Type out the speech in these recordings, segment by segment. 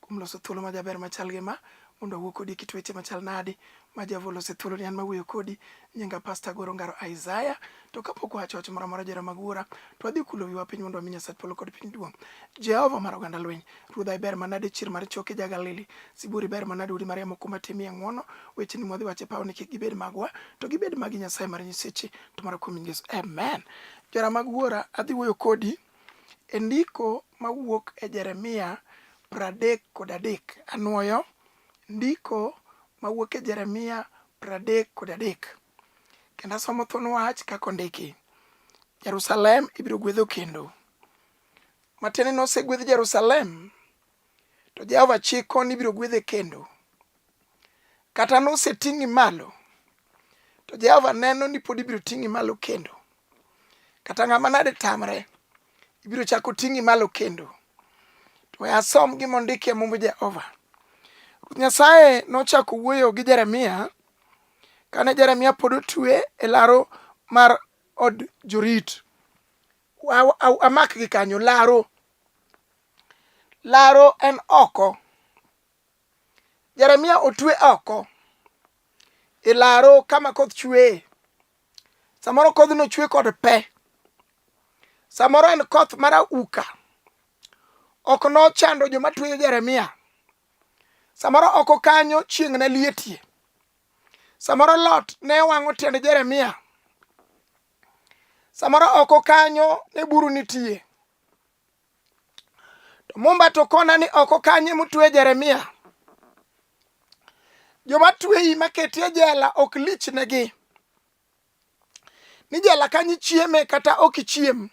kuom loso thuolo ma jaber machal gi ma mondo awuo kodi kit weche machal nadi ma Java olose thuolo ni an mawuoyo kodi nyinga pasta Goro Ngaro Isaiah to kapok wacho wach moro amora jera mag wuora to wadhi kulo wiwa piny mondo wami Nyasach polo kod piny duong' Jehova mar oganda lweny ruodha iber manade chir mar choke ja Galili siburi ber manade udi mar yamo kuma timie ng'wono weche ni mwadhi wache pawo ni kik gibed magwa to gibed magi Nyasaye mar nyiseche to mara kuom Yesu amen jera mag wuora adhi wuoyo kodi E ndiko ma wuok e Jeremia 30 kod adek, anwoyo, Ndiko ma wuok e Jeremia 30 kod adek, kendo asomo thuon wach kaka ondiki, Jerusalem ibiro gwedho kendo. Matiende ni osegwedh Jerusalem. to Jehova chiko ni ibiro gwedhe kendo. Kata noseting'i malo, to Jehova neno ni pod ibiro ting'i malo kendo. Kata ng'ama nade tamre, ibiro chako ting'i malo kendo. To we asom gima ondiki e mumb Jehova. Ruoth Nyasaye nochako wuoyo gi Jeremia kane Jeremia pod otue e laro mar od jorit. Wa- wa- Amak gi kanyo laro. Laro en oko. Jeremia otwe oko e laro kama koth chweye. Samoro kodhno chwe kod pe. Samoro en koth mar auka. Ok nochando joma tweyo Jeremia. Samoro oko kanyo chieng' ne lietie. Samoro lot ne wang'o tiend Jeremia. Samoro oko kanyo ne buru nitie. to mumba to kona ni oko kanye mutwe jeremia joma tweyi maketi e jela ok lichnegi ni jela kanyi chieme kata ok ichiem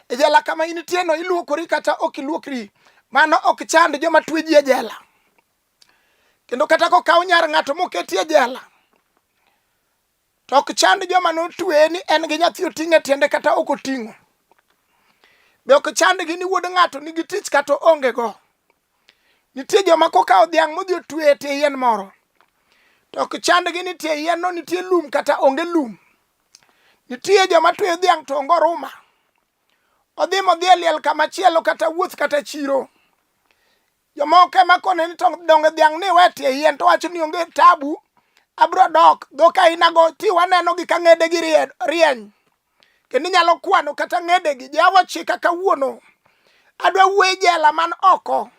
e jela kama initie no iluokori kata ok iluokri mano ok chand joma tweji e jela kendo kata kokaw nyar ng'ato moketi e jela To ok chand joma notweye ni en gi nyathi oting' e tiende kata ok oting'o. Be ok chandgi ni wuod ng'ato nigi tich kata onge go. Nitie joma kokawo dhiang' modhi otwe e tie yien moro. To ok chandgi ni tie yien no nitie lum kata onge lum. Nitie joma tweyo dhiang' to onge oruma. Odhi modhi e liel kama chielo kata wuoth kata chiro. Jomoko ema kone ni to donge dhiang' ni we tie yien to wacho ni onge tabu abro dok dhok ainago ti wanenogi ka ng'edegi rieny kendo inyalo kwano kata ng'edegi jawa chika kawuono adwa wuoye jela man oko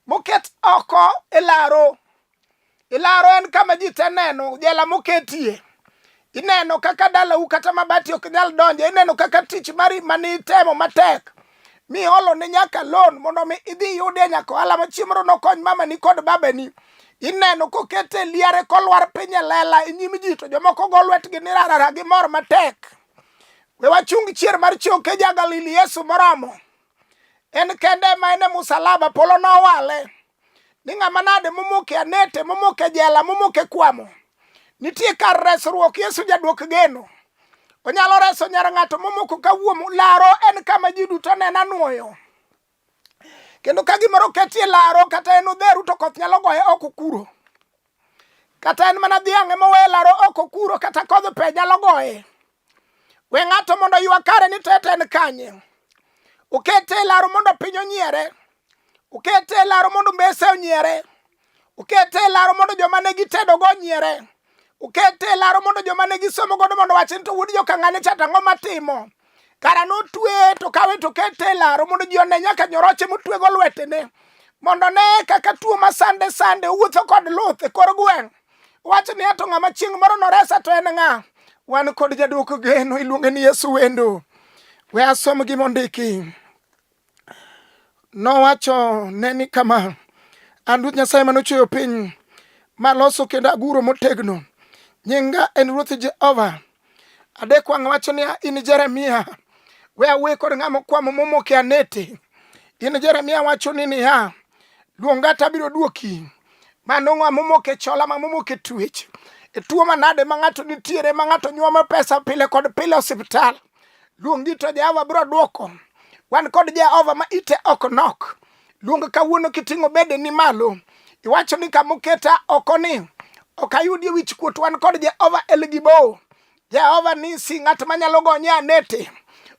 moket oko e laro Ilaro en kama ji te neno, jela moketie. Ineno kaka dalau kata mabati ok nyal donje, ineno kaka tich mari mani itemo matek mi olo ne nyaka loan mondo mi idhi yudie nyaka ohala ma chiemoro nokony mamani kod babani. Ineno kokete liare kolwar piny e lela e nyim ji to jomoko go lwetgi ni rarara gi mor matek. We wachung chier mar choke ja Galili Yesu moromo. En kende ma en e musalaba polo nowale. ni ng'ama nade momoke anete momoke jela momoke kwamo nitie kar resruok yesu jadwok geno onyalo reso nyar ng'ato momoko kawuom laro en kama ji duto nena nwoyo kendo ka gimoro ketie laro kata en odheru to koth nyalo goye oko kuro kata en mana dhiang'e mowe laro oko kuro kata kodh pe nyalo goye We ng'ato mondo oywa kare ni tete en kanye. Ukete e laro mondo piny onyiere. Ukete e laro mondo mbese onyiere. Ukete e laro mondo joma ne gitedogo onyiere. Ukete e laro mondo joma ne gisomo godo mondo wach ni to wuod jokang'ane cha tang'o matimo. Kara notwe to kawe to kete e laro mondo ji one nyaka nyoroche motwego lwetene mondo ne kaka tuo ma sande sande owuotho kod luth e kor gweng' Wach ni ato ng'ama chieng' moro noresa to en ng'a? Wan kod jaduoko geno iluonge ni Yesu Wendo. We asom gima ondiki. Nowacho ne ni kama, an Ruoth Nyasaye mane ochweyo piny, maloso kendo aguro motegno. Nyinga en Ruoth Jehova. adek wang' wacho niya in jeremia we awuoye kod ng'a mokwamo momoke anete in jeremia wacho ni niya luonga to abiro duoki mano ng'a momoke chola ma momoke twech e tuo manade ma ng'ato nitiere ma ng'ato nyuomo pesa pile kod pile osiptal luongi to jehova biro duoko wan kod jehova ma ite ok nok Luong kawuono kiting'o bede ni malo. Iwacho ni kama oketa oko ni ok ayudie wich kuot wan kod Jehova El Gibo. Jehova ni si ng'at manyalo gonye anete.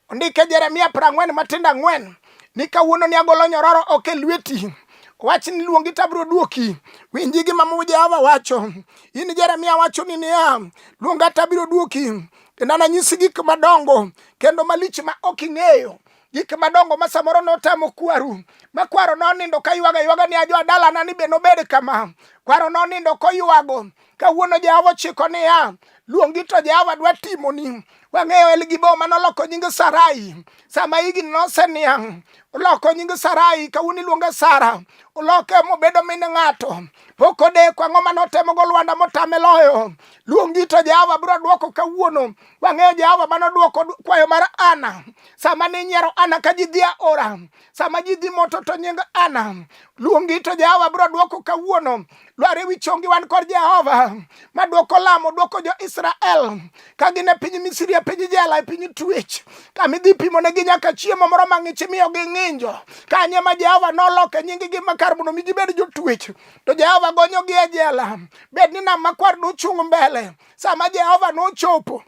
Ondike Jeremia prang'wen matindo ang'wen ni kawuono ni agolo nyororo ok e lweti wach ni luongi to abiro duoki winji gima mu jehova wacho in jeremia wacho ni niya luonga to abiro duoki kendo ananyisi gik madongo kendo malich ma ok ing'eyo gik madongo ma samoro notamo kwaru ma kwaro nonindo ka ywaga ywaga ni ajo adalana ni be nobed kama kwaro nonindo koywago kawuono jehova ochiko niya luongi to jehova dwa timoni wang'eyo elgibo ma noloko nying sarai sama higni noseniang' oloko nying sarai kawuono iluonge sara oloke mobedo min ng'ato pok odeko ang'o ma notemogo lwanda motame loyo luongi to jehova biro dwoko kawuono Wang'eyo Jehova mano dwoko kwayo mar Ana sama ne nyiero Ana ka ji dhi aora, sama ji dhi moto to nying Ana luongi to Jehova biro dwoko kawuono. Lwar ewi chongi wan kod Jehova ma dwoko lamo, dwoko jo Israel ka gin e piny Misri, e piny jela, e piny twech, kama idhi pimo negi nyaka chiemo moro ma ng'ich miyo gi ng'injo. Kanye ma Jehova noloke nying gi makar mondo mi gibed jotwech, to Jehova gonyogi e jela. Bed ni nam makwar duchung' mbele, sama Jehova nochopo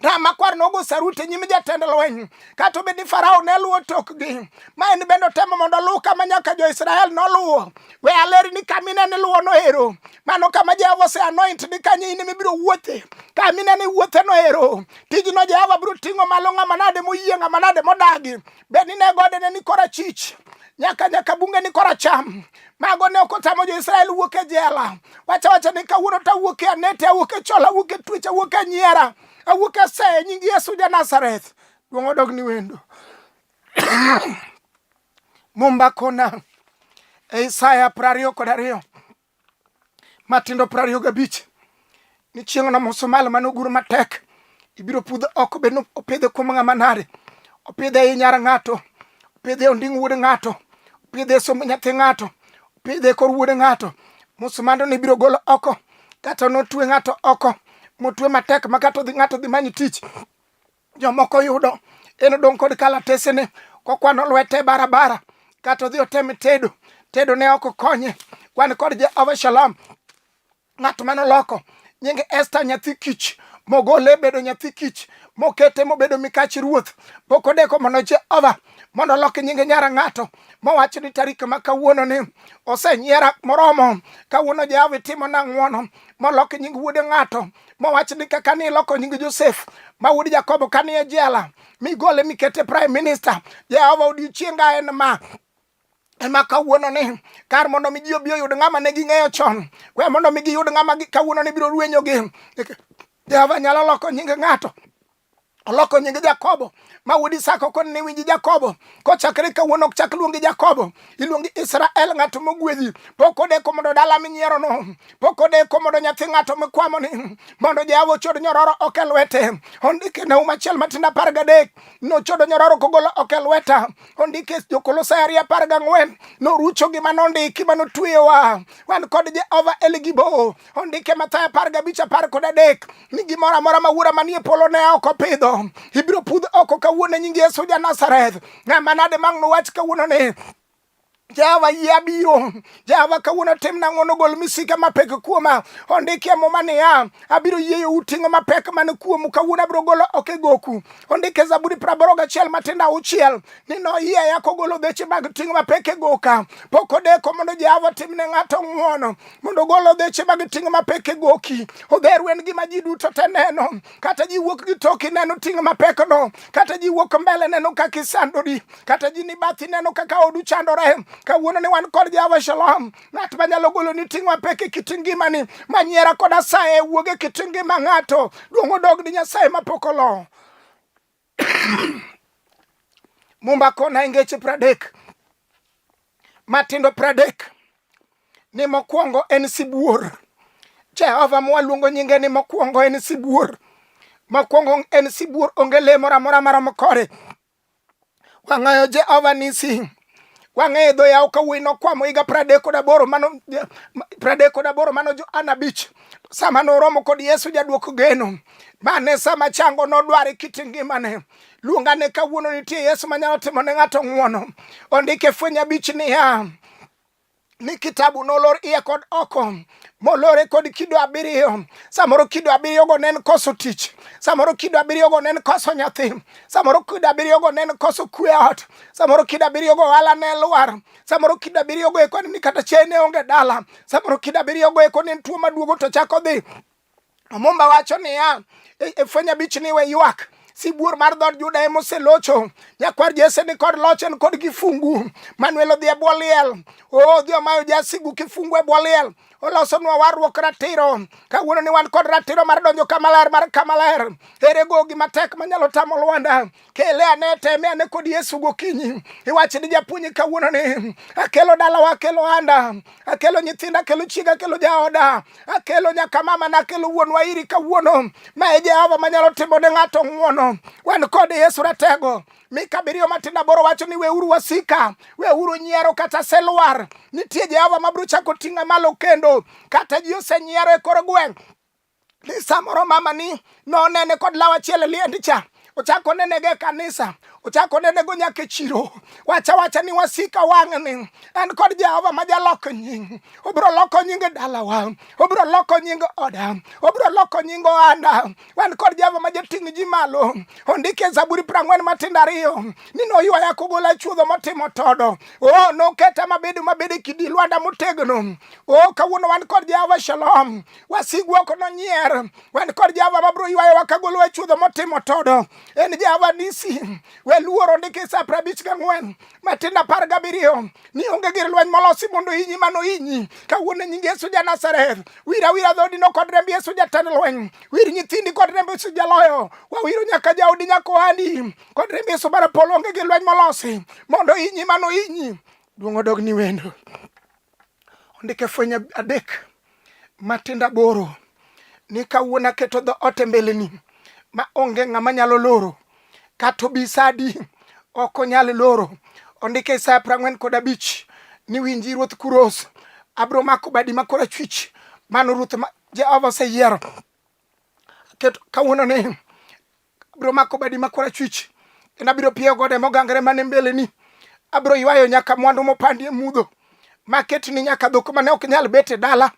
Ramakwar nogo saruti e nyim jatend lweny, kata obed ni Farao ne luwo tokgi. Ma en bende otemo mondo oluw kama nyaka jo-Israel noluwo. We aleri ni kama ineno iluwo noero, mano kama Jehova oseanoint ni kanyo in mibiro wuothe. Kama ineno iwuothe noero, tijno Jehova biro ting'o malo ng'ama nade moyie, ng'ama nade modagi. Bed ni ne gode ne ni korachich nyaka nyaka bunge ni koracham mago ne ok otamo jo-israel wuok e jela wacha wacha ni kawuono to awuok e anete awuok e chola awuok e twech awuok e nyiera awuok e seye nying yesu ja nazareth duong' odog ni wendo mumba kona e isaya prariyo kod ariyo matindo piero ariyo gabich ni chieng'no musumal mane ogur matek ibiro pudh oko bed ni opidhe kuom ng'ama nade opidhe e nyar ng'ato opidhe e onding wuod ng'ato opidhe e somb nyathi ng'ato opidhe e kor wuod ng'ato musumando ni ibiro golo oko kata notwe ng'ato oko motwe matek ma kata ng'ato dhi manyi tich jomoko yudo en odong' kod kalatesene kokwano lwete barabara kata odhi otem tedo tedo ne ok konye wan kod jehova shalom ng'at mane oloko nying esta nyathi kich mogole bedo nyathi kich mokete mobedo mikach ruoth pok odeko mondo jehova mondo olok nyinge nyara ng'ato mowacho ni tarik ma kawuono ni osenyiera moromo kawuono jehova itimo na ng'wono molok nying wuode ng'ato mowach ni kaka ni iloko nying Josef ma wuod Jakobo ka ni e jela migole mikete prime minister Jehova odiochienga en ma ema kawuono ni kar mondo mi ji obi oyud ng'ama ne ging'eyo chon we mondo mi giyud ng'ama kawuono ni biro rwenyogi Jehova nyalo loko nying ng'ato oloko nyinge jakobo ma wuod isaka koni ne winji jakobo kochakre kawuono ok chak luongi jakobo iluongi israel ng'ato mogwedhi pok odeko mondo dala minyierono pok odeko mondo nyathi ng'ato mikwamoni mondo jehova ochod nyororo ok e lwete ondike naum achiel matindo apar gadek nochodo nyororo kogolo ok e lweta ondike jokolosai ariyo apar gang'wen norucho gima nondiki ma notweyowa wan kod jehova eligibo ondike mathayo apar gabich apar kod adek ni gimoro amora ma wuora manie polo ne ok opidho ibiro pudh oko kawuono e nying Yesu ja Nazareth. Ng'ama nade mang' nowach kawuono ni Jehova yie abiro. Jehova kawuono timna ng'wono gol misika mapek kuoma. Ondiki e muma niya, abiro yieyo uting'o mapek man kuomu kawuono abiro golo ok e goku. Ondiki e Zaburi praboro gachiel matindo auchiel ni noyieya kogolo dheche mag ting'o mapek e goka. Pok odeko mondo Jehova timne ng'ato ng'wono. mondo ogol odheche mag ting' mapek e goki odheru en gima ji duto te neno kata ji wuok gi toki neno ting' mapek no kata ji wuok mbele neno kaka isandori kata ji ni bathi neno kaka odu chandore kawuono ni wan kod jehova shalom ng'at manyalo golo ni ting' mapek e kit ngimani manyiera kod asaye wuog e kit ngima ng'ato duong' odog ni nyasaye mapok olo Mumba kona e ngeche pradek matindo pradek ni mokwongo en sibuor. Jehova mwaluongo nyinge ni mokwongo en sibuor. Mokwongo en sibuor onge le moro amora maromo kore. Wang'ayo Jehova nisi wang'eyo dho yawo ka wuoyi nokwamo higa pradek kod aboro mano pradek kod aboro mano Johana abich sama noromo kod Yesu jadwoko geno mane sama chango nodware kit ngimane luonga ne kawuono nitie Yesu manyalo timo ne ng'ato ng'wono ondike fweny abich niya ni kitabu nolor iye kod oko molore kod kido abiriyo samoro kido abiriyogo ne en koso tich samoro kido abiriyogo ne en koso nyathi samoro kido abiriyogo ne en koso kwe ot samoro kido abiriyogo ohala ne lwar samoro kido abiriyogo eko ni kata chiaye ne onge dala samoro kido abiriyogo eko ne en tuo maduogo to chako dhi Omumba wacho niya, e, e fweny abich ni we ywak sibuor mar dhood Juda ema oselocho. Nyakwar Jesse ni kod loch en kod kifungu. Manuel odhi e bwo liel. Oo odhi omayo jasigu kifungu e bwo liel. Olosonwa warruok ratiro. Kawuono ni wan kod ratiro mar donjo kama ler mar kama ler. Ere gogi matek manyalo tamo Lwanda? kele ane teme ane kod Yesu gokinyi, iwach ni japuonj kawuono ni akelo dalawa, akelo anda, akelo nyithinda, akelo chiega, akelo jaoda, akelo nyaka mama na, akelo wuonwa iri kawuono. Ma e Jehova manyalo timo ne ng'ato ng'uono. Wan kod Yesu ratego Mika abiriyo matindo aboro wacho ni weuru wasika, weuru nyiero kata selwar. Nitie Jehova mabiro chako ting'a malo kendo, kata ji osenyiero e kor gweng' samoro mama ni nonene kod law achiel e liend cha ochako nenege e kanisa ochako nenego nyaka e chiro wacha wacha ni wasika wang'ni en kod jehova ma jaloko nying obiro loko nying e dalawa obiro loko nying oda obiro loko nying ohanda wan kod jehova ma jating' ji malo ondike e zaburi prang'wen matindo ariyo ni noywaya kogola chuodho motimo todo o oh, noketa mabedo mabedo e kidi lwanda motegno o oh, kawuono wan kod jehova shalom wasigwa ok nonyier wan kod jehova mabiro ywayo wakagolo e chudho motimo todo en jehova nisi we luoro ndiki sa pra abich gang'wen matindo apar gabiriyo ni onge gir lweny molosi mondo inyi mano inyi kawuono e nying yesu ja nazareth wir awira dhoodino kod remb yesu jatend lweny wir nyithindi kod remb yesu jaloyo wawiro nyaka jaodi nyaka ohandi kod remb yesu mar polo onge gir lweny molosi mondo inyi mano inyi duong' odog ni wendo ondike fwenye adek matindo aboro ni kawuono aketo dho ote mbeleni ma onge ng'ama nyalo loro kata obi sadi ok onyal loro ondike isaya prang'wen kod abich ni winji ruoth kuros abro mako badi ma kora chwich mano ruoth ma jehova oseyiero kawuono ni Abiro mako badi ma korachwich, kendo abiro pieyo gode mogangre mane mbeleni. Abiro ywayo nyaka mwandu mopandi e mudho, maket ni nyaka dhok mane ok nyal bet e dala,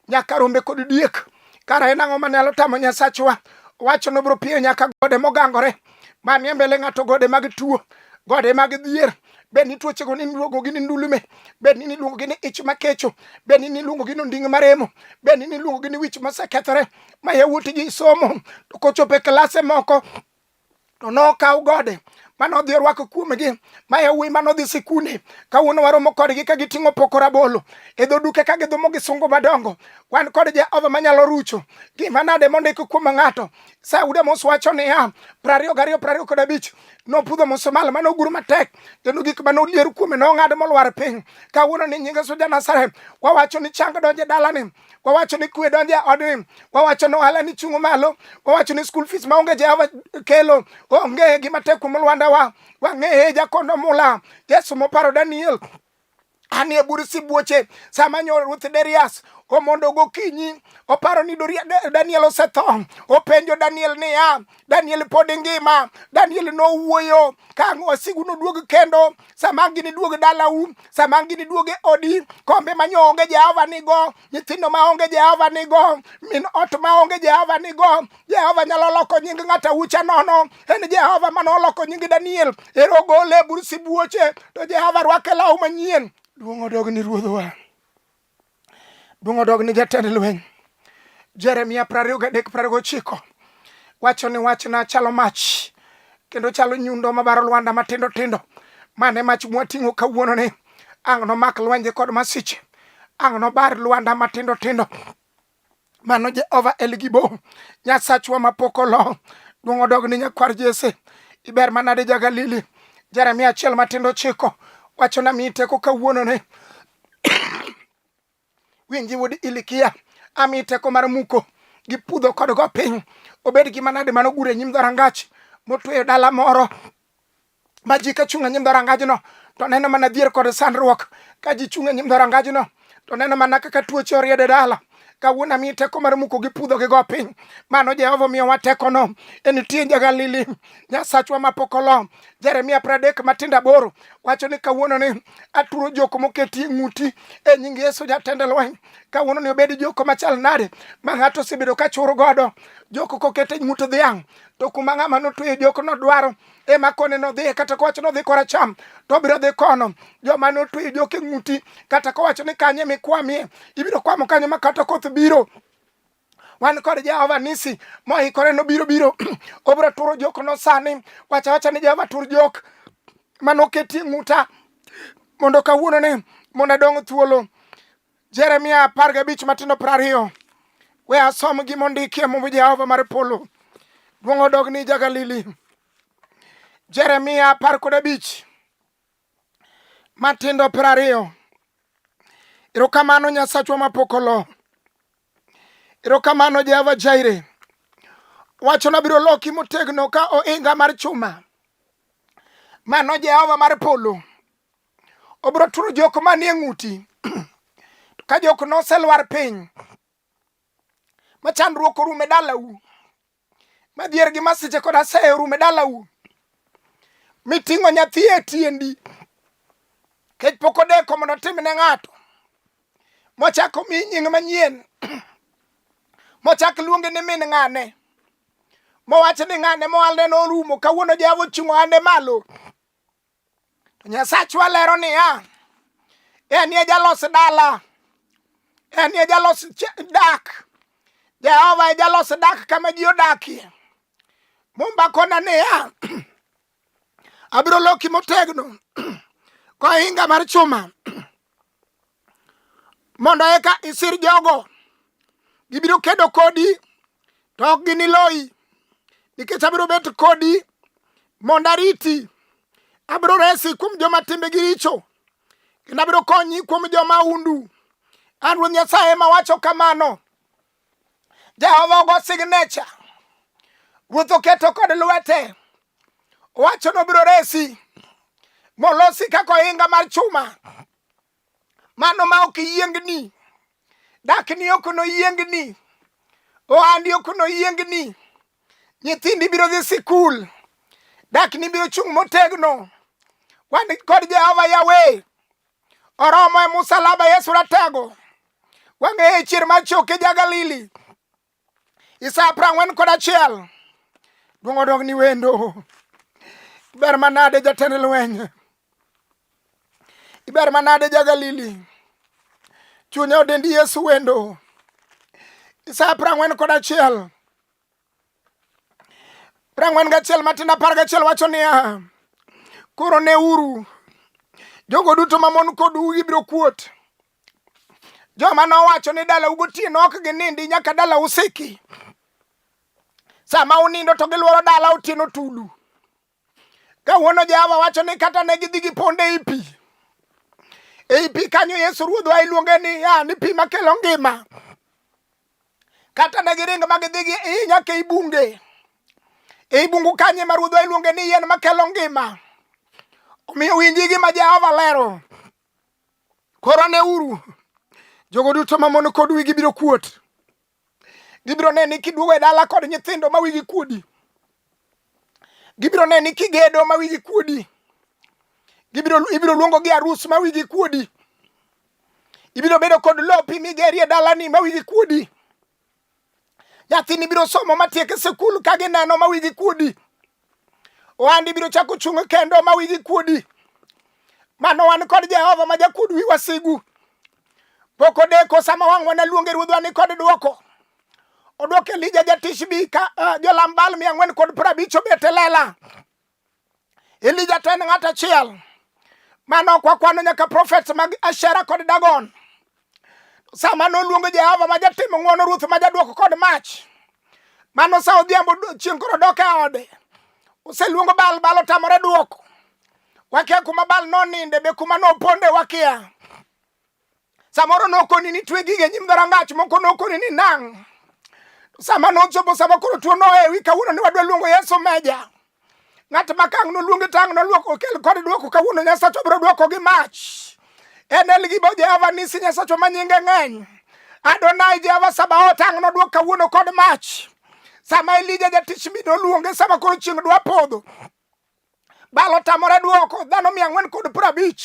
nyaka rombe kod diek. Kara en ang'o manyalo tamo Nyasachwa? Owacho nobiro pieyo nyaka gode mogangore, manie mbele ng'ato gode mag tuo, gode mag dhier, bed ni tuochego ni niluongogi ni ndulume bed ni niluongogi ni ich makecho bed ni niluongogi ni onding' maremo bed ni niluongogi ni wich mosekethore ma yawuot ji somo to kochopo e klase moko to nokaw gode mane odhi orwako kuomgi ma yawuoyi mane odhi sikunde kawuono waromo kodgi ka giting'o poko rabolo e dho duke ka gidhumo gi sungu madongo wan kod jehova manyalo rucho gima nade mondik kuom ng'ato sauda mos wacho niya prariyo gariyo prariyo kod abich nopudho musumal mane ogur matek kendo gik mane olier kuome nong'ad molwar piny kawuono ni nyinge suja nazareth wawacho ni chang donje dalani wawacho ni kwe donjo e odni wawacho ni ohala ni chungo malo wawacho ni school fees maonge jehova kelo onge gima tek kuom lwandawa wang'eye jakono mula yesu moparo daniel anie bur sibuoche sama nyo ruoth derias omondo gokinyi oparo ni daniel osetho openjo daniel niya Daniel pod ngima. Daniel nowuoyo ka wasigu noduog kendo sama gini duog dalau, sama gini duog e odi, kombe ma onge Jehova nigo, nyithindo ma onge Jehova nigo, min ot ma onge Jehova nigo. Jehova nyalo loko nying ng'ata ucha nono. En Jehova ma noloko nying Daniel. Ero ogole e bur sibuoche, to Jehova rwake law manyien. Duong' odog ni Ruodhwa. Duong' odog ni jatend lweny. Jeremia 23:29 wacho ni wachna chalo mach kendo chalo nyundo mabaro lwanda matindo tindo. Mane mach mwating'o kawuono ni ang' nomak lwenje kod masiche, ang' nobar lwanda matindo tindo. Mano Jehova El Gibo, Nyasachwa mapok olo. Duong' odog ni nyakwar Jesse. Iber manade ja Galili. Jeremia achiel matindo chiko. Wacho na mi teko kawuono ne. Winji wuod Ilikia. Ami teko mar muko. Gi pudho kod go piny. Obed gi manade mano gure nyim dharangach. Motweyo dala moro. ma ji ka chung' e nyim dhorangajno to neno mana dhier kod sandruok ka ji chung' e nyim dhorangajno to neno mana kaka tuoche oriedo e dala kawuono amiyi teko mar muko gi pudho gi go piny mano jehova omiyowa tekono en tie jagalili nyasachwa mapok olo jeremia pradek matindo aboro wacho ni kawuono ni aturo joko moketi e ng'uti e nying yesu jatend lweny kawuono ni obed joko machal nade ma ng'ato osebedo ka chur godo joko kokete ng'ut dhiang' to kuma ng'ama notweyo jok nodwaro ema kone nodhiye kata kowacho nodhi koracham to obiro dhi kono joma notweyo joke ng'uti kata kowacho ni kanye mikwamie ibiro kwamo kanye ma kata koth biro wan kod jehova nisi moikore nobiro biro obiro turo jok nosani wacha wacha ni jehova tur jok manoketie ng'uta mondo kawuono ni mondo adong thuolo Jeremia apar gabich matindo piero ariyo we asom gima ondikie Muma Jehova mar polo duong' odog ni Jagalili. Jeremia apar kod abich matindo piero ariyo erokamano Nyasachwa mapok olo erokamano Jehova Jaire wacho nabiro loki motegno ka ohinga mar chuma mano Jehova mar polo obiro turo jok manie ng'uti to ka jok noselwar piny ma chandruok orume dalau ma dhier gi masiche kod aseye orume dalau miting'o nyathi e tiendi kech pok odeko mondo otim ne ng'ato mochako mi nying manyien mochak luonge ni min ng'ane mowacho ni ng'ane moalne norumo kawuono jehova ochung'o ande malo To Nyasachwa lero niya, en ye jalos dala, en ye jalos dak. Jehova e jalos dak kama ji odakie. Mumba kona niya, abiro loki motegno kohinga mar chuma mondo eka isir jogo. Gibiro kedo kodi to ok giniloyi nikech abiro bet kodi mondo ariti. Abiro resi kuom joma timbegi richo kendo abiro konyi kuom joma undu. An Ruoth Nyasaye ema wacho kamano. Jehova ogo signecha, ruoth oketo kod lwete, owacho nobiro resi molosi kaka ohinga mar chuma, mano ma ok yiengni, dakni ok noyiengni, ohandi ok noyiengni, nyithindi biro dhi sikul, dakni biro chung' motegno, wan kod Jehova Yahweh oromo e musalaba yesu ratego wang'eye e chier mar choke ja galili isa prang'wen kod achiel duong' odog ni wendo ber manade jatend lweny iber manade ja galili chunye odendi yesu wendo isa prang'wen kod achiel prang'wen gachiel matindo apar gachiel wacho niya koro ne uru jogo duto mamon kodu gibiro kuot joma nowacho ni dala ugotieno ok ginindi nyaka dala usiki sama unindo to gilworo dala otieno tulu Kawuono Jehova wacho ni kata ne gidhi gi ponde ei pi. Ei pi kanyo Yesu Ruodhwa iluonge ni ya ni pi makelo ngima. Kata ne giring ma gidhi gi iyi nyaka ei bunge. Ei bungu kanye ma Ruodhwa iluonge ni yien makelo ngima. Omiyo winji gima Jehova lero. Koro ne uru. Jogo duto mamon kod wigi biro kuot. Gibiro neni kiduogo e dala kod nyithindo ma wigi kuodi. Gibiro neni kigedo ma wigi kuodi. Gibiro ibiro luongo gi arus ma wigi kuodi. Ibiro bedo kod lopi migeri e dalani ma wigi kuodi. Nyathini biro somo matiek e sikul ka gineno ma wigi kuodi. Ohandi biro chako chung' kendo ma wigi kuodi. Mano wan kod Jehova ma jakuod wi wasigu. Pok odeko sama wang'wa ne luonge ruodhwa ni kod dwoko. Odwoko Elija jatishbi ka uh, jolam Baal mia ang'wen kod piero abich obet e lela. Elija to en ng'at achiel. Mano ok wakwano nyaka profets mag Ashera kod Dagon. Sama noluongo Jehova ma jatimo ng'wono, Ruoth ma jadwoko kod mach, mano sa odhiambo chieng' koro dok e ode. Oseluongo Baal, Baal otamore dwoko. Wakia kuma Baal noninde, be kuma noponde wakia. Samoro nokoni ni twe gige nyim dhorangach, moko nokoni ni nang'. Sama nochopo sama koro tuo nohewi, kawuono ni wadwa luongo Yesu meja. Ng'at ma kang' noluongi tang' noluok okel kod duoko kawuono Nyasacho biro duoko gi mach. Enel gi bo Jehova nisi Nyasacho ma nyinge ng'eny. Adonai Jehova Sabaoth tang' noduok kawuono kod mach. Sama Elija jatich mi noluonge sama koro chieng' dwa podho. Balo tamore duoko dhano mia ang'wen kod piero abich.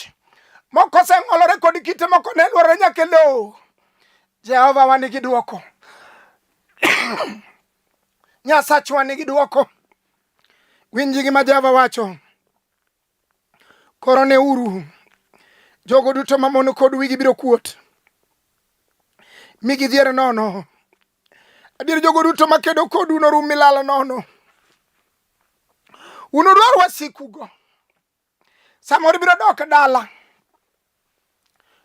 Moko oseng'olore kod kite moko ne lworore nyaka e lowo. Jehova wan gi duoko. Nyasachwa nigi dwoko. Winj gima Jehova wacho. Koro ne uru jogo duto mamono kod wigi biro kuot mi gidhier nono. Adier jogo duto makedo kodu norum milal nono. Unudwar wasikugo samoro ibiro dok dala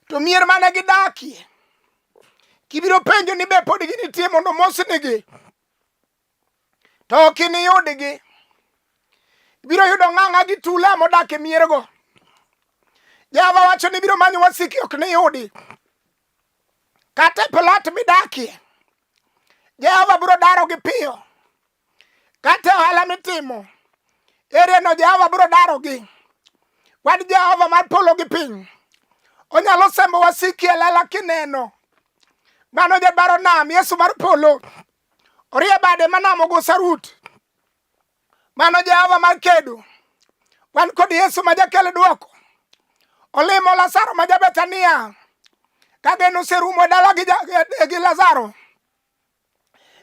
to mier mane gidakie kibiro penjo ni be pod ginitie mondo mosnigi to ok iniyudgi ibiro yudo ng'ang'a gi tula modak e miergo jehova wacho ni biro manyo wasiki ok niyudi kata e plat midakie jehova biro darogi piyo Kata ohala mitimo, erieno Jehova biro darogi. Wan Jehova mar polo gi piny, onyalo sembo wasiki e lela kineno. Mano jabaro nam, Yesu mar polo, orie bade ma nam ogo sarut. Mano Jehova mar kedo, wan kod Yesu ma jakel dwoko. Olimo Lazaro ma Jabethania, ka geno oserumo e dala gi, gi Lazaro.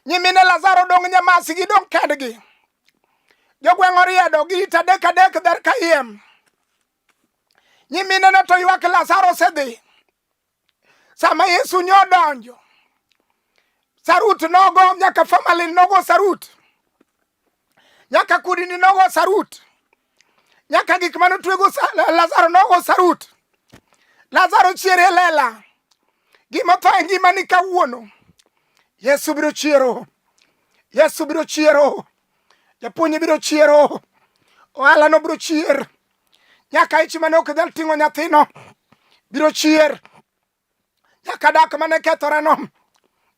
nyimine lazaro dong' nyamasi gidong' kendgi jogweng' oriedo gi it adek adek dher kayiem nyiminene to ywak lazaro osedhi sama yesu nyo odonjo sarut nogo nyaka famali nogo sarut nyaka kudini nogo sarut, nyaka gik mane otwego Lazaro nogo sarut. Lazaro chier e lela, gima otho e ngimani kawuono, Yesu biro chiero, Yesu biro chiero, japuonj biro chiero, ohalano biro chier, nyaka ich mane ok nyal ting'o nyathino biro chier. nyaka dak mane kethore no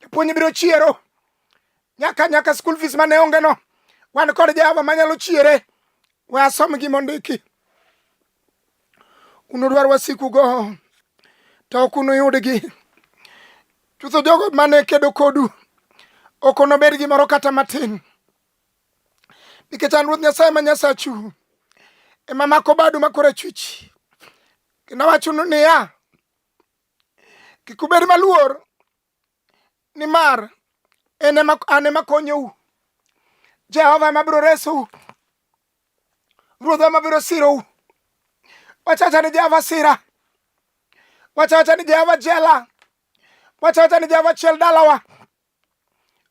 japuonj biro chiero nyaka nyaka school fees mane onge no wan kod jehova manyalo chiere we asom gi mondiki unudwar wasikugo to ok unuyudgi chutho jogo mane kedo kodu ok onobed gimoro kata matin nikech an ruoth nyasaye ma nyasachu ema mako badu makora chwich kendo awachonu niya kik ubed maluor nimar en ema an ema konyou jehova ema biro resou ruodhwa ema biro sirou wachacha ni jehova sira wachacha ni jehova jela wachacha ni jehova chiel dalawa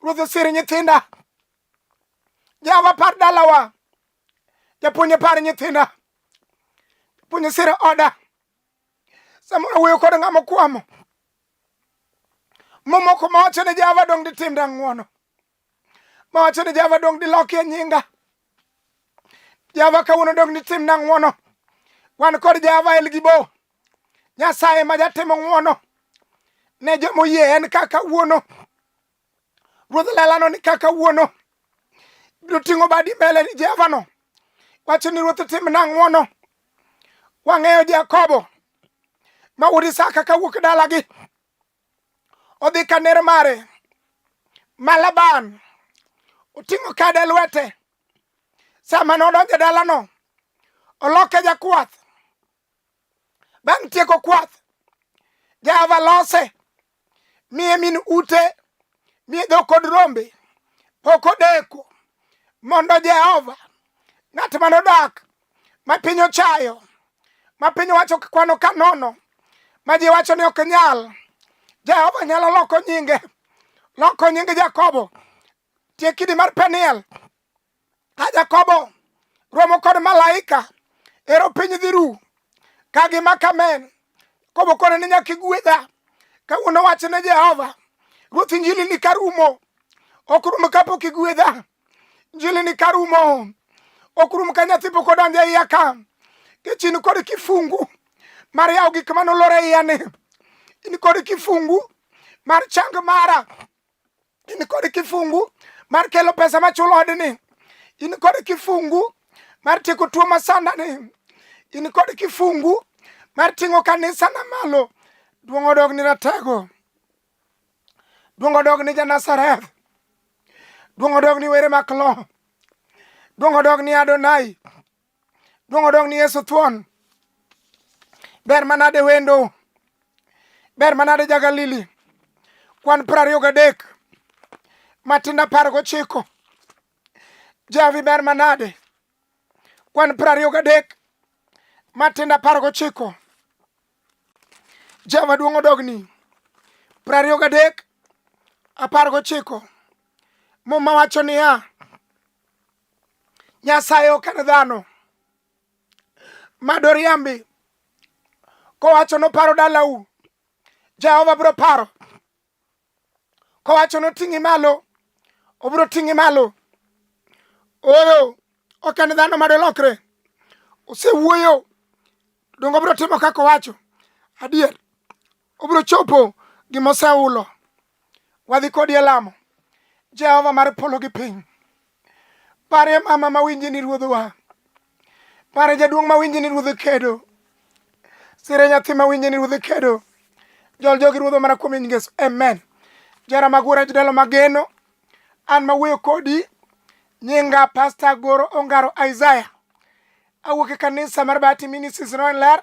ruoth osir nyithinda jehova par dalawa japuonj par nyithinda japuonj osir oda samoro wuoyo kod ng'ama okwamo momoko mawacho ni java dong ditimda ng'wono mawacho ni java dong dilokie nyinga java kawuono dong ditimna ng'wono wan kod java elgibo nyasaye ma jatimo ng'wono ne jomoyie en kaka wuono Ruodh lelano ni kaka wuono biro ting'o badi mbele ni Jehovano, wacho ni Ruoth timna ng'wono. Wang'eyo Jakobo ma wuod Isaka ka wuok dalagi odhi ka ner mare ma Laban oting'o kade lwete. Sama nodonjo dalano, oloke jakwath Bang' tieko kwath, Jehova lose, miye min ute, miye dhok kod rombe. Pok odeko mondo Jehova, ng'at ma nodak, ma piny ochayo, ma piny wacho kwano ka nono, ma ji wacho ni ok nyal, Jehova nyalo loko nyinge, loko nyinge Jakobo, tiekidi mar Peniel, Ka Jakobo romo kod malaika ero piny dhi ru ka gima kamen kobo kone ni nyaka igwedha kawuono wach ne Jehova ruoth injili ni karumo ok rum kapok igwedha injili ni karumo ok rum ka nyathi pok odonjo e iya ka kichin kod kifungu mar yawo gik manolore iyani in kod kifungu mar chang mara in kod kifungu mar kelo pesa machulo odni in kod kifungu mar tieko tuo masandani in kod kifungu mar ting'o kanisa na malo duong' odog ni ratego duong' odog ni janasareth duong' odog ni were maklo duong' odog ni adonai Duong' odong' ni Yesu thuon. Ber manade wendo. Ber manade ja Galili. Kwan piero ariyo gadek. Matinda apar gochiko. Javi ber manade. Kwan piero ariyo gadek. Matinda apar gochiko. Jehova duong' odogni. Piero ariyo gadek. Apar gochiko. Muma wacho niya. Nyasaye ok en dhano madoriambi kowacho noparo dalau Jehova bro paro kowacho noting'i malo obro ting'i malo oyo ok en dhano madolokre osewuoyo dongo obro timo kaka owacho adier obiro chopo gima oseulo wadhi kodi e lamo jehova mar polo gi piny pare mama mawinji ni ruodhwa pare jaduong' mawinji ni ruodh kedo sire nyathi mawinji ni ruodh kedo jol jogi ruodho mana kuom nying yesu amen jara magura jodalo mageno an mawuoyo kodi nyinga pasta goro ongaro isaya awuok e kanisa mar bati ministries noen ler